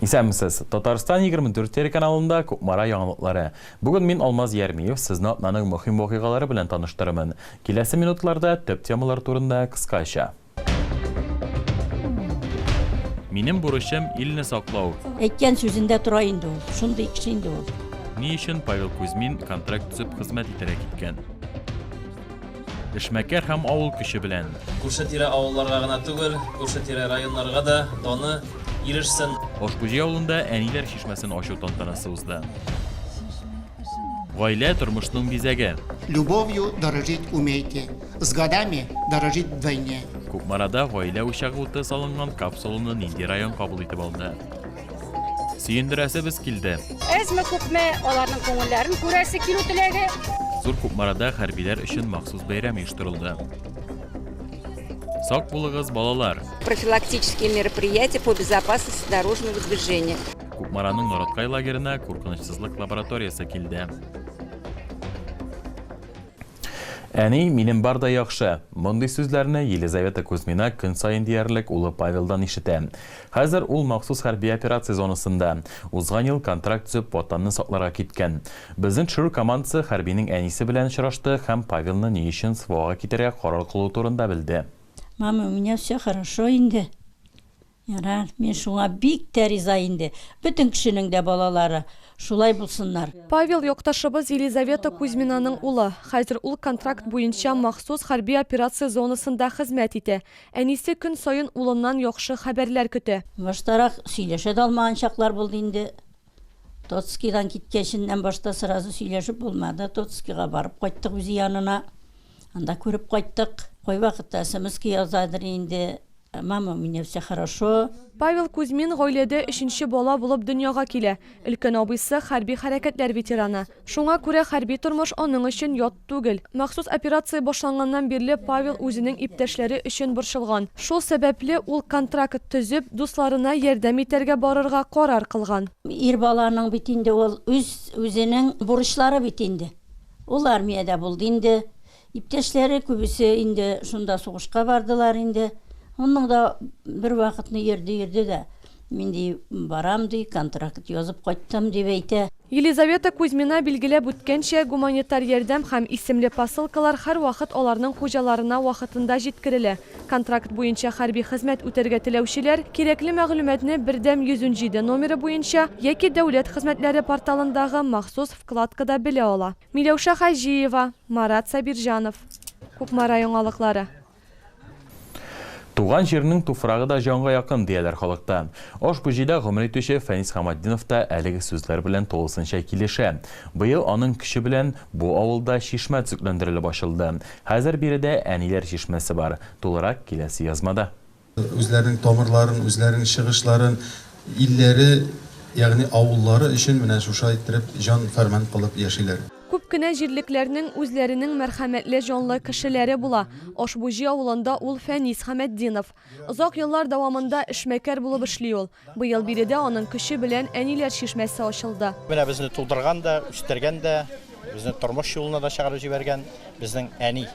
Исәнмесез! Татарстан 24 телеканалында Кукмара яңалыклары. Бүген мин, Алмаз Ярмиев, сезне атнаның мөһим вакыйгалары белән таныштырырмын. Киләсе минутларда төп темалар турында кыскача. Минем бурычым, илне саклау. Әйткән сүзендә тора инде ул. Шундый кеше инде ул. Ни өчен Павел Кузьмин контракт төзеп хезмәт итәргә киткән? Эшмәкәр һәм авыл көче белән. Күрше-тирә авылларга гына түгел, күрше-тирә районнарга да даны ирешсен. Ошбуҗи авылында әниләр чишмәсен ачу тантанасы узды. Гаилә тормышның бизәге. Любовью дорожить умейте, с годами дорожить вдвойне. Кукмарада гаилә учагы уты салынган капсуланы нинди район кабул итеп алды? Сөендерәсебез килде. Әзме күпме аларның күңелләрен күрәсе килү теләге. Зур Кукмарада хәрбиләр өчен махсус бәйрәм оештырылды. Сак булыгыз, балалар! Профилактические мероприятия по безопасности дорожного движения. Кукмараның Нораткай лагерына куркынычсызлык лабораториясе килде. Әни, минем бар да яхшы. Мондый сүзләрне Елизавета Кузьмина көн саен диярлек улы Павелдан ишетә. Хәзер ул махсус хәрби операция зонасында. Узган ел контракт төзеп Ватанны сакларга киткән. Безнең төшерү командасы хәрбинең әнисе белән очрашты һәм Павелны ни өчен СВОга китәргә карар кылуы турында белде. Мама, у меня все хорошо инде. Ярар, мин шуңа бик тә риза инде. Бөтен кешенең дә балалары шулай булсыннар. Павел, якташыбыз Елизавета Кузьминаның улы. Хәзер ул контракт буенча махсус хәрби операция зонасында хезмәт итә. Әнисе көн саен улыннан яхшы хәбәрләр көтә. Баштарак сөйләшә дә алмаган чаклар булды инде. Тоцкидан киткәченнән башта сразу сөйләшеп булмады. Тоцкига барып кайттык үзе янына. Анда күреп кайттык. Кайвакытта смска яза дыр инде. Мама, у меня все хорошо. Павел Кузьмин гаиләдә өченче бала булып дөньяга килә. Өлкән абыйсы, хәрби хәрәкәтләр ветераны. Шуңа күрә хәрби тормыш аның өчен ят түгел. Махсус операция башланганнан бирле Павел үзенең иптәшләре өчен борчылган. Шул сәбәпле, ул контракт төзеп, дусларына ярдәм итәргә барырга карар кылган. Ир баланың бит инде ул үз-үзенең бурычлары бит инде. Ул армиядә булды инде. Иптәшләре күбесе инде шунда сугышка бардылар инде. Аннан да бервакытны йөрде-йөрде дә, мин, ди, барам, ди, контракт язып кайттым, дип әйтә. Елизавета Кузьмина билгеләп үткәнчә, гуманитар ярдәм һәм исемле посылкалар һәрвакыт аларның хуҗаларына вакытында җиткерелә. Контракт буенча хәрби хезмәт үтәргә теләүчеләр кирәкле мәгълүматны Бердәм 117 номеры буенча яки Дәүләт хезмәтләре порталындагы махсус вкладкада белә ала. Миләүшә Хаҗиева, Марат Сабирҗанов. Кукмара яңалыклары. Туган җирнең туфрагы да җанга якын, дияләр халыкта. Ошбу җирдә гомер итүче Фәнис Хаматдинов та әлеге сүзләр белән тулысынча килешә. Быел аның көче белән бу авылда чишмә төзекләндерелеп ачылды. Хәзер биредә Әниләр чишмәсе бар. Тулырак киләсе язмада. Үзләренең тамырларын, үзләренең чыгышларын, илләре, ягъни авыллары өчен менә шуша иттереп җан фәрман кылып яшиләр. Күп кенә җирлекләрнең үзләренең мәрхәмәтле җанлы кешеләре була. Ошбуҗи авылында ул Фәнис Хәмәтдинов. Озак еллар дәвамында эшмәкәр булып эшли ул. Быел биредә аның көче белән Әниләр чишмәсе ачылды. Менә безне тудырган да, үстергән дә, безне тормыш юлына да чыгарып җибәргән безнең әни.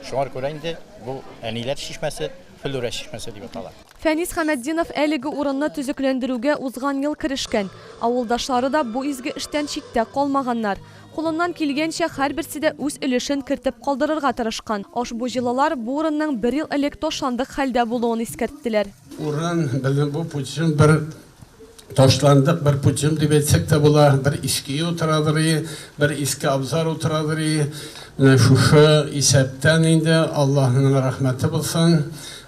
Шуңар күрә инде бу Әниләр чишмәсе Флүрә чишмәсе дип атала. Фәнис Хәмәтдинов әлеге урынны төзекләндерүгә узган ел керешкән. Авылдашлары да бу изге эштән читтә калмаганнар. Кулыннан килгәнчә һәрберсе дә үз өлешен кертеп калдырырга тырышкан. Ошбу җылылар бу урынның бер ел элек ташландык хәлдә булуын искәрттеләр. Урын, безнең бу путем бер ташландык, бер путем дип әйтсәк тә була, бер иске утырадыр и, бер иске абзар утырадыр и. Менә шушы исәптән инде Аллаһының рәхмәте булсын,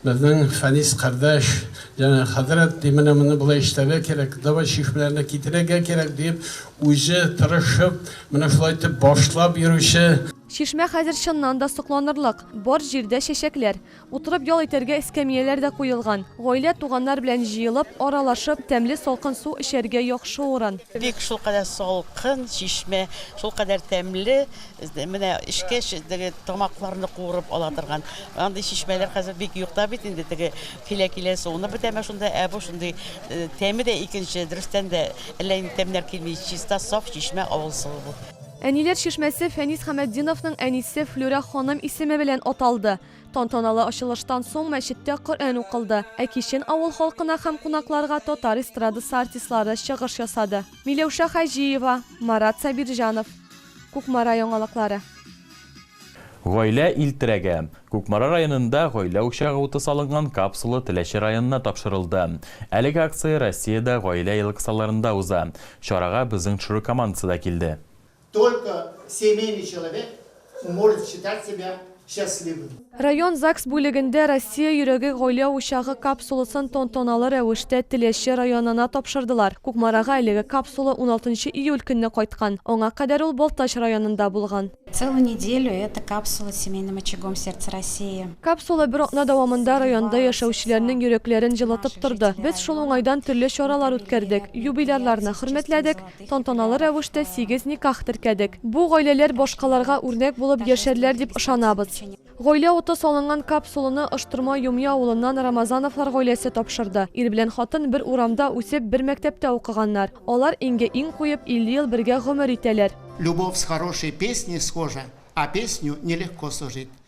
безнең Фәнис кардәш җәнә хәзрәт ди, менә моны болай эшләргә кирәк, давай чишмәләрне китерергә кирәк диеп, үзе тырышып, менә шулай итеп башлап йөрүче. Чишмә хәзер чыннан да сокланырлык, бар җирдә чәчәкләр. Утырып ял итәргә эскәмияләр дә куелган. Гаилә, туганнар белән җыелып, аралашып, тәмле салкын су эчәргә яхшы урын. Бик шулкадәр салкын чишмә, шулкадәр тәмле, менә эчкәч, теге тамакларны куырып ала торган. Андый чишмәләр хәзер бик юк та бит инде, теге килә-килә суынып бетәме шунда, ә бу шундый тәме дә икенче, дөрестән дә, әллә нинди тәмнәр килми, чиста, саф чишмә, авыл суы бу. Әниләр чишмәсе Фәнис Хамәтдиновның әнисе Флүрә ханым исеме белән аталды. Тантаналы ачылыштан соң мәчеттә Коръән укылды, ә кичен авыл халкына һәм кунакларга татар эстрадасы артистлары чыгыш ясады. Миләүшә Хаҗиева, Марат Сабирҗанов. Кукмара яңалыклары. Гаилә ил терәге. Кукмара районында гаилә учагы уты салынган капсула Теләче районына тапшырылды. Әлеге акция Россиядә гаилә елы кысаларында уза. Чарага безнең ТШРУ командасы да килде. Только семейный человек может считать себя счастливым. Район ЗАГС бүлегендә Россия йөрәге гаилә учагы капсуласын тантаналы рәвештә Теләче районына тапшырдылар. Кукмарага әлеге капсула уналтынчы июль көнне кайткан, аңа кадәр ул Балтач районында булган. Целую неделю эта капсула семейным очагом сердца России. Капсула бер атна дәвамында районда яшәүчеләрнең йөрәкләрен җылытып торды. Без шул уңайдан төрле чаралар үткәрдек, юбилярларны хөрмәтләдек, тантаналы рәвештә сигез никах теркәдек. Бу гаиләләр башкаларга үрнәк булып яшәрләр дип ышанабыз. Гаилә уты салынган капсуланы Ыштырма Юмья авылыннан Рамазановлар гаиләсе тапшырды. Ир белән хатын бер урамда үсеп, бер мәктәптә укыганнар. Алар иңгә иң куеп, 50 ел бергә гомер итәләр. Любовь с хорошей песней схожа, а песню нелегко сложить.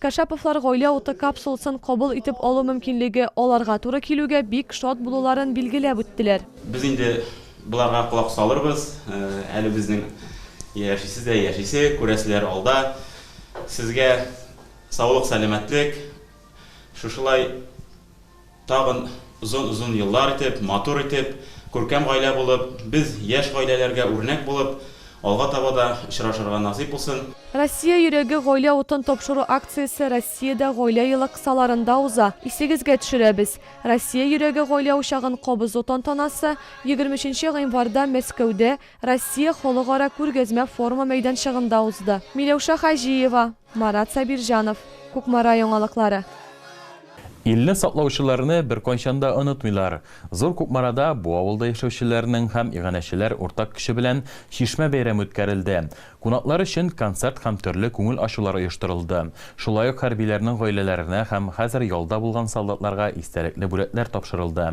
Кашаповлар гаилә уты капсуласын кабул итеп алу мөмкинлеге аларга туры килүгә бик шат булуларын билгеләп үттеләр. Без инде боларга колак салырбыз, әле безнең яшисе дә яшисе, күрәселәре алда. Сезгә саулык-сәламәтлек, шушылай Тагын озын-озын еллар итеп, матур итеп, күркәм гаилә булып, без яшь гаиләләргә үрнәк булып, алга таба да очрашырга насыйп булсын. Россия йөрәге гаилә утын тапшыру акциясе Россиядә гаилә елы кысаларында уза. Исегезгә төшерәбез, Россия йөрәге гаилә учагын кабызу тантанасы егерме өченче гыйнварда Мәскәүдә Россия халыкара күргәзмә-форумы мәйданчыгында узды. Миләүшә Хаҗиева. Марат Сабирҗанов, Кукмара яңалыклары. Илне саклаучыларны беркайчан да онытмыйлар. Зур Кукмарада бу авылда яшәүчеләрнең һәм иганәчеләр уртак көче белән Чишмә бәйрәме үткәрелде. Кунаклар өчен концерт һәм төрле күңел ачулар оештырылды. Шулай ук хәрбиләрнең гаиләләренә һәм хәзер ялда булган солдатларга истәлекле бүләкләр тапшырылды.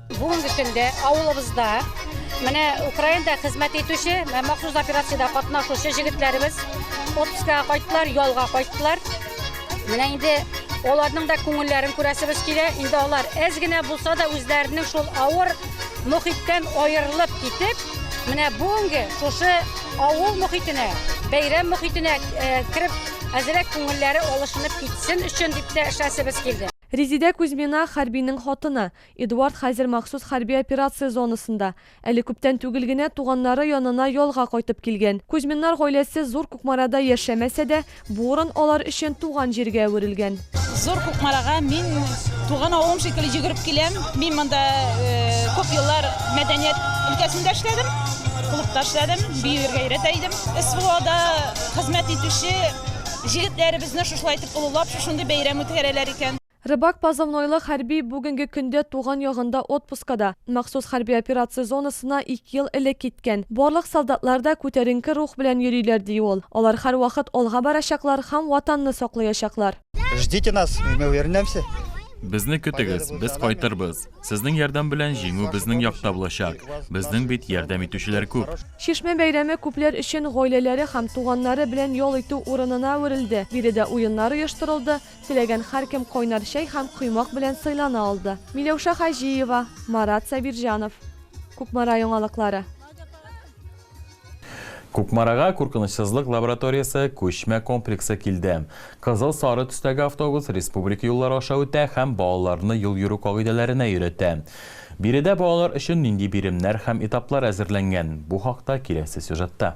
Бүгенге көндә авылыбызда менә Украинада хезмәт итүче, махсус операциядә катнашучы җегетләребез отпускага кайттылар, ялга кайттылар. Менә инде аларның да күңелләрен күрәсебез килә. Инде алар әз генә булса да үзләренең шул авыр мохиттән аерылып китеп, менә бүгенге шушы авыл мохитенә, бәйрәм мохитенә э, кереп, әзрәк күңелләре алышынып китсен өчен дип тә эшләсебез килде. Резидә Кузьмина хәрбинең хатыны. Эдуард хәзер махсус хәрби операция зонасында. Әле күптән түгел генә туганнары янына ялга кайтып килгән. Кузьминнар гаиләсе Зур Кукмарада яшәмәсә дә, бу урын алар өчен туган җиргә әверелгән. Зур Кукмарага мин туган авылым шикелле йөгереп киләм. Мин монда күп еллар мәдәният өлкәсендә эшләдем, клубта эшләдем, биюергә өйрәтә идем. СВОда хезмәт итүче җегетләребезне шушылай итеп олылап, шушындый бәйрәм үткәрәләр икән. Рыбак позывнойлы хәрби бүгенге көндә туган ягында отпускада. Махсус хәрби операция зонасына ике ел элек киткән. Барлык солдатлар да күтәренке рух белән йөриләр, ди ул. Алар һәрвакыт алга барачаклар һәм Ватанны саклыячаклар. Ждите нас, и мы вернемся. Безне көтегез, без кайтырбыз. Сезнең ярдәм белән җиңү безнең якта булачак. Безнең бит ярдәм итүчеләр күп. Чишмә бәйрәме күпләр өчен гаиләләре һәм туганнары белән ял итү урынына әверелде. Биредә уеннар оештырылды. Теләгән һәркем кайнар чәй һәм коймак белән сыйлана алды. Миләүшә Хаҗиева, Марат Сабирҗанов. Кукмара яңалыклары. Кукмарага Куркынычсызлык лабораториясе күчмә комплексы килде. Кызыл-сары төстәге автобус республика юллары аша үтә һәм балаларны юл йөрү кагыйдәләренә өйрәтә. Биредә балалар өчен нинди биремнәр һәм этаплар әзерләнгән, бу хакта киләсе сюжетта.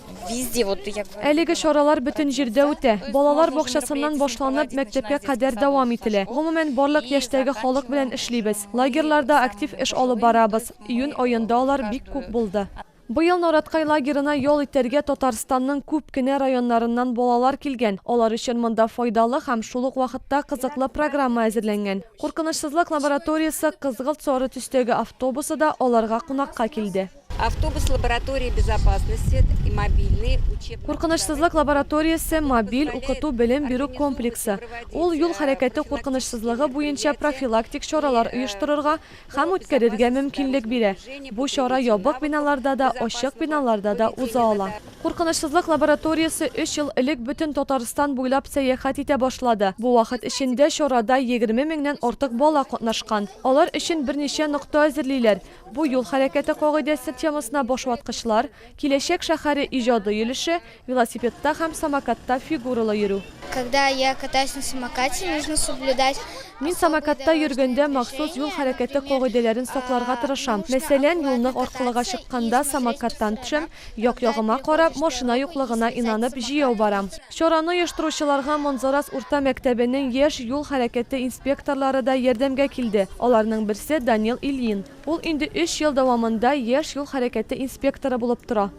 Әлеге чаралар бөтен җирдә үтә. Балалар бакчасыннан башланып, мәктәпкә кадәр дәвам ителә. Гомумән, барлык яшьтәге халык белән эшлибез. Лагерьларда актив эш алып барабыз. Июнь аенда алар бик күп булды. Быел Нараткай лагерына ял итәргә Татарстанның күп кенә районнарыннан балалар килгән. Алар өчен монда файдалы һәм шул ук вакытта кызыклы программа әзерләнгән. Куркынычсызлык лабораториясе кызгылт-сары төстәге автобусы да аларга кунакка килде. Автобус лаборатории безопасности и мобильный учебный. Куркынычсызлык лабораториясе мобиль укыту-белем бирү комплексы. Ул юл хәрәкәте куркынычсызлыгы буенча профилактик чаралар оештырырга һәм үткәрергә мөмкинлек бирә. Бу чара ябык биналарда да, ачык биналарда да уза ала. Куркынычсызлык лабораториясе өч ел элек бөтен Татарстан буйлап сәяхәт итә башлады. Бу вакыт эчендә чарада егерме меңнән артык бала катнашкан. Алар өчен берничә нокта әзерлиләр. Бу юл хәрәкәте кагыйдәсе темасына башваткычлар, Киләчәк шәһәре иҗади йөлеше, велосипедта һәм самокатта фигуралы йөрү. Когда я катаюсь на самокате, нужно соблюдать особые Мин самокатта йөргәндә махсус юл хәрәкәте кагыйдәләрен сакларга тырышам. Мәсәлән, юлны аркылыга чыкканда самокаттан төшәм, Як-ягыма карап, машина юклыгына инанып, җәяү барам. Чараны оештыручыларга Монзарас урта мәктәбенең яшь юл хәрәкәте инспекторлары да ярдәмгә килде. Аларның берсе, Данил Ильин. Ул инде өч ел дәвамында яшь юл хәрәкәте инспекторы булып тора.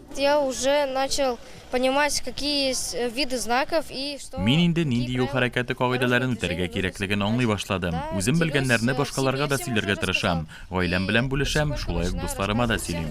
Мин инде нинди юл хәрәкәте кагыйдәләрен үтәргә кирәклеген аңлый башладым. Үзем белгәннәрне башкаларга да сөйләргә тырышам. Гаиләм белән бүлешәм, шулай ук дусларыма да сөйлим.